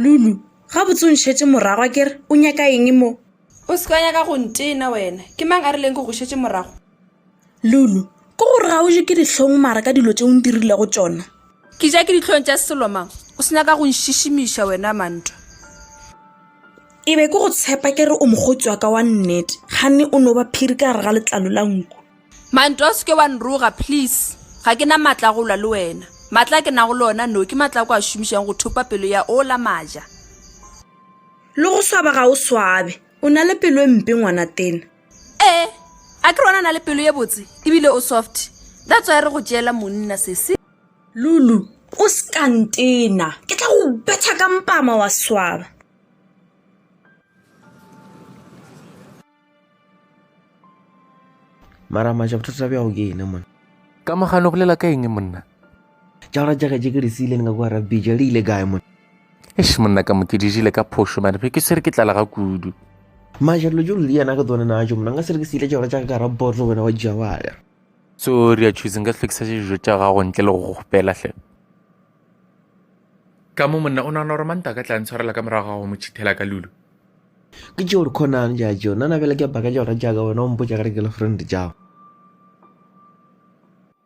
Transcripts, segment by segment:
lulu gabotse o ntšhetše morago a kere o nyaka eng mo o se ka nyaka go ntena wena ke mang a rileng ke go šetše morago Lulu, Ke gore ga o je ke dihlong mara ka dilo tše o ndirile go tšona. Ke ja ke dihlong tša selo mang? O se nyaka go nšišimiša wena Mantwa. E be ke go tshepa ke re o mokgotsi wa ka wa nnete, ganne o no ba phiri ka gare ga letlalo la nku. Mantwa, O se ke wa nroga please. Ga ke na matla a go lwa le wena. Matla a ke nago le ona no ke matla a ko a šomišago go thopa pelo ya ola Maja. Le go swaba ga o swabe. O na le pelo e mpe ngwanatena. ee a ke rona na le pelo ye botse ebile o soft that's why re go tšeela monna sese lulu o sekantena ke tla go betha ka mpama wa swaba mara maja bothata bja go ke ene mona ka mogano bolela ka eng monna Tšaura tša gaje ke re se ile le nga kwa rabija le ile kae mona? Eish monna ka mo ke dijile ka phošo mane ke se re ke tlala ga kudu. Maja dilo tšo le yana ke tsone na tšo monna nga se re ke se ile tšaura tša ka ka ra botlo wena wa dija wa ya. So re ya choose nka hlokisa dijo tša gago ntle le go go gopela hle. Ka mo monna o nagana gore manta ka tla ntshwarela ka morago ga go mo chithela ka lulu. Ke tšeo re khonang ja tšeo nana bjale ke baka tšaura tša ka wena o mpotša gare ke le friend tšago.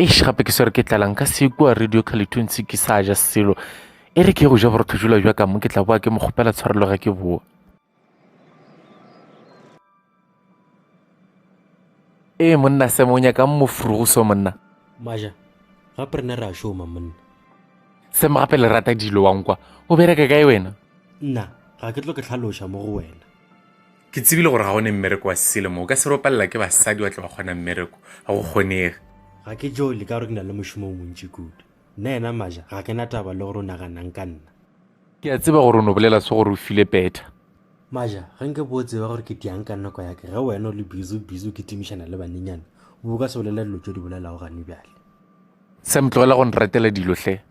eish gape ke swere ke tlalang ka se kua radio calituntse ke sa ja selo e re ke go ja borotho jula jwa ka mo ke tla boa ke mo kgopela tshwarelo ge ke boa ee monna semonya ka mofurugo so monna maja gape re ne re a šoma monna semo gape le rata dilo wankwa o bereka kae wena nna ga ke tlo ke tlhaloša mo go wena Ke tsebile gore ga go ne mmereko wa selemo. O ka se ropalela ke basadi wa tle wa kgona mmereko. Ga go kgonege. Ga ke jo le ka gore ke na le mošomo o montši kudu. Nna yena Maja ga ke na taba le gore o naganang ka nna. Ke a tseba gore o no bolela se gore o file petha. Maja, ge nke bo o tseba gore ke diang ka nako ya ka ge wena o le busy o busy o kitimišana le banenyana, o bo o ka se bolele dilo tše o di bolelago gane bjale. Sam, tlogela go nratela dilo hle.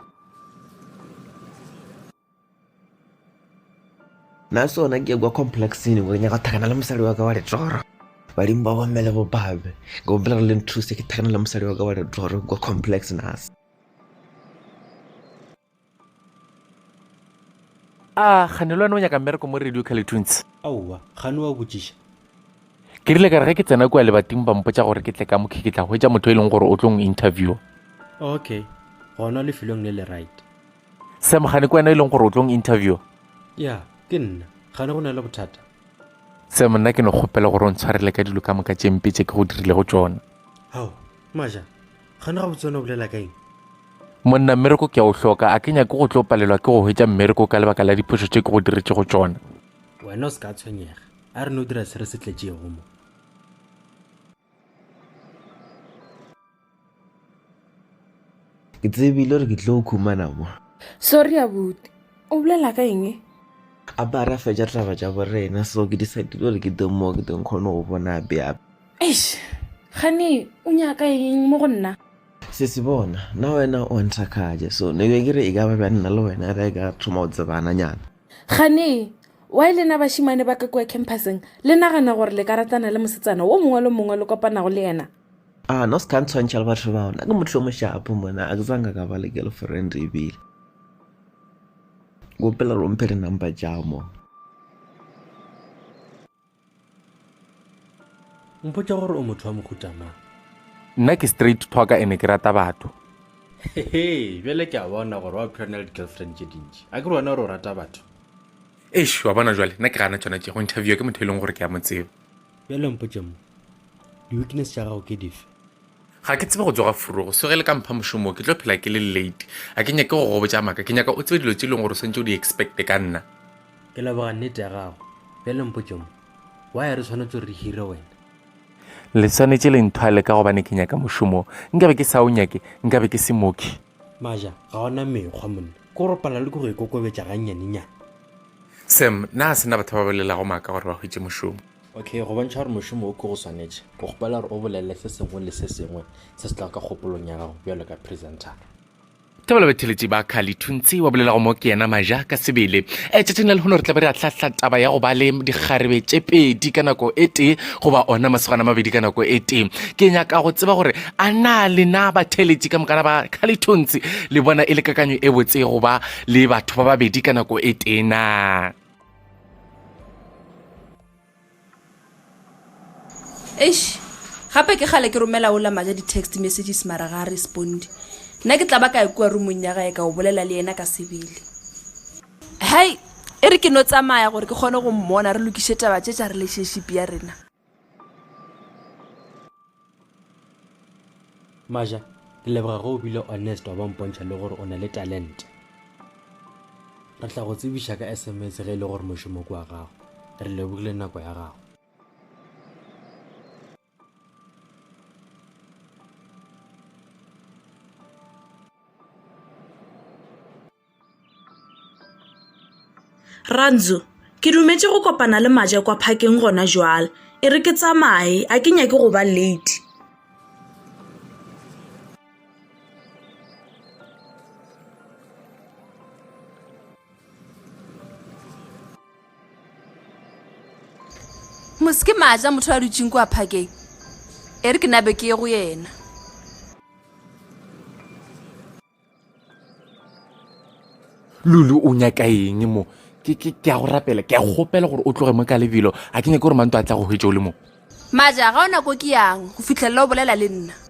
Na sona ke kwa complexing go nyaka thakana le mosadi wa ka wa letoro badimo ba bomme le bobabe go bolela gore le nthuse ke thakana le mosadi wa ka wa letoro kwa complex nas a gane le wena o nyaka mmereko mo radio calitunes aowa gane wa botšiša ke rile ka re ge ke tsena kua lebating ba mpotsa gore ke tle ka mokhe ke tla hwetsa motho e leng gore o tlong interview okay gona lefelong le le right sam gane ke wena e leng gore o tlong interview ya ke nna gane go na le bothata sam nna ke no kgopela gore o ntshwarele ka dilo ka moka tše mpe tše ke go dirile go tsona ao maja gane ga botsone o bolela ka eng monna mmereko ke a o hloka a ke nyake go tlo palelwa ke go hwetša mmereko ka lebaka la diphošo tše ke go diretse go tsona wena o se ka tshwenyega a re no dira se re se tletšego mo Ke tsebile gore ke tlo o khumana mo. Sorry abuti. O bolela ka eng? A ba ra fetša taba tša borena so ke decidile gore ke teng mo ke teng kgone go bona ape ape. Eish. Gane o nyaka eng mo go nna? Se se bona, na wena o nthakgatša so ne be ke re e ka ba bja nna le wena re ka thoma go tsebana nyana. Gane, why le na bašimane ba ka kua campuseng le nagana gore le ka ratana le mosetsana wo mongwe le mongwe le kopanago le yena? Ah no se ka ntshwantšha le batho bao, nna ke motho yo moshapo mona, a ke tsanga ka ba le girlfriend ebile. Kopela gore o mphe di-number tša mo. Mpotša gore o motho wa mohuta mang? Nna ke straight talker ene ke rata batho. Hehe, bjale ke a bona gore wa phela o na le di-girlfriend tše dintši. A ke re wena o re o rata batho? Eish, wa bona bjale, nna ke gana tšona tše, go interviewa ke motho e leng gore ke a mo tseba. Bjale mpotše mo, di-weakness tša gago ke dife? Ga ke tsebe go tsoga furugo, so ge le ka mpha mošomo o, ke tlo phela ke le late. Ga ke nyake go go botša maaka, ke nyaka o tsebe dilo tše e leng gore o swantše o di-expecte ka nna. Ke leboga nnete ya gago. Bjale mpotše mo, why re swanetše gore re hire wena? Le swanetše le nthwale ka gobane ke nyaka mošomo o. Nkabe ke sa o nyake, nkabe ke se mooki. Maja, ga o na mekgwa monna. Ke gore o palelwa ke go ikokobetša gannyanenyane. Sam, na sena batho ba bolelago maaka gore ba hwetše mošomo? Okay, go bontšha gore mošomo o ke go swanetše, ke kgopela gore o bolelele se sengwe le se sengwe se se tlago ka kgopolong ya gago bjalo ka presentara. Thabo batheletši ba Khali Thuntsi wa bolelago mo ke yena Maja ka sebele. E, tšatšing la lehono re tla be re ahlahla taba ya go ba le dikgarebe tše pedi ka nako e tee goba ona masogana mabedi ka nako e tee. Ke nyaka go tseba gore a na lena batheletši ka mokana ba Khali Thuntsi le bona e le kakanyo e botse goba le batho ba babedi ka nako e tee na? eish gape ke gale ke romela ola maja di-text messages mara ga a responde nna ke tla ba ka e kua rumong ya gae ka o bolela le yena ka sebele hai e re ke no tsamaya gore ke kgone go mmona re lokiše taba tše tša relationship ya rena maja ke leboga ge o bile honest wa ba mpontšha le gore o na le talente re tla go tsebiša ka sms ge e le gore mošomo ke wa gago re lebogile nako ya gago Rantzu, Ke dumetše go kopana le Maje kwa phakeng gona jwale. E re ke tsamaye, a ke nyake go ba late. Mosi ke Maje a motho a dutšeng kwa phakeng. E re ke nabe ke ye go yena. lulu o nyaka eng mo ke ke ke a go rapela ke a go gopela gore o tloge mo ka lebelo a ke nyake gore manto a tla go hwetša o le mo maja ga o nako ke yang go fitlhelela o bolela le nna